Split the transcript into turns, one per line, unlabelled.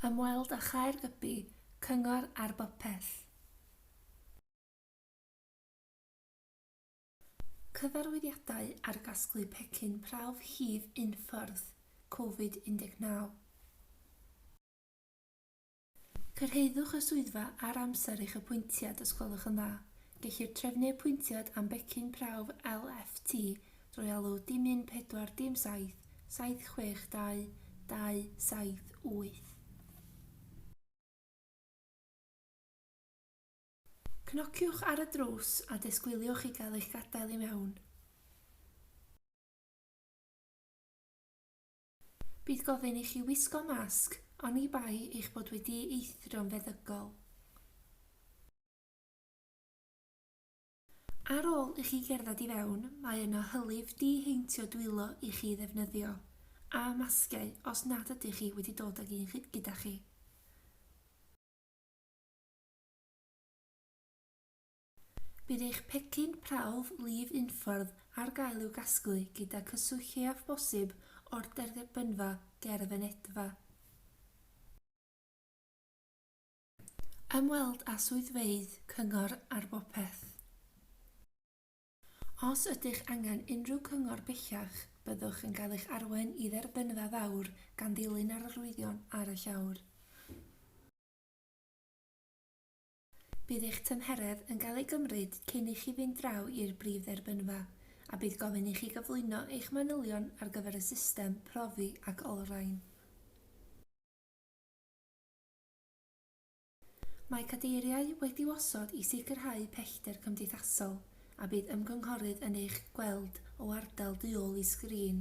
Ymweld â Chaer Gybi, Cyngor ar Bopeth. Cyfarwyddiadau ar gasglu pecyn prawf hif unffordd, Covid 19. Cyrhaeddwch y swyddfa ar amser eich apwyntiad os gwelwch yn dda. Gellir trefnu apwyntiad am becyn prawf LFT Drwy alw dim un pedwar dim saith, saith chwech dau, dau saith wyth. Cnociwch ar y drws a disgwyliwch i gael eich gadael i mewn. Bydd gofyn i chi wisgo masg, oni bai eich bod wedi'i eithro'n feddygol. Ar ôl i chi gerdded i fewn, mae yna hylif di-heintio dwylo i chi ddefnyddio, a masgiau os nad ydych chi wedi dod ag un gyda chi. Bydd eich pecyn prawf lif unffordd ar gael i'w gasglu gyda cyswllt lleiaf bosib o'r derbynfa ger y fynedfa. Ymweld â swyddfeydd Cyngor ar Bopeth. Os ydych angen unrhyw gyngor bellach, byddwch yn cael eich arwain i Dderbynfa Fawr gan ddilyn yr arwyddion ar y llawr. Bydd eich tymheredd yn cael ei gymryd cyn i chi fynd draw i'r brif dderbynfa, a bydd gofyn i chi gyflwyno eich manylion ar gyfer y system profi ac olrhain. Mae cadeiriau wedi'u osod i sicrhau pellter cymdeithasol a bydd ymgynghorydd yn eich gweld o ardal du ôl i sgrin.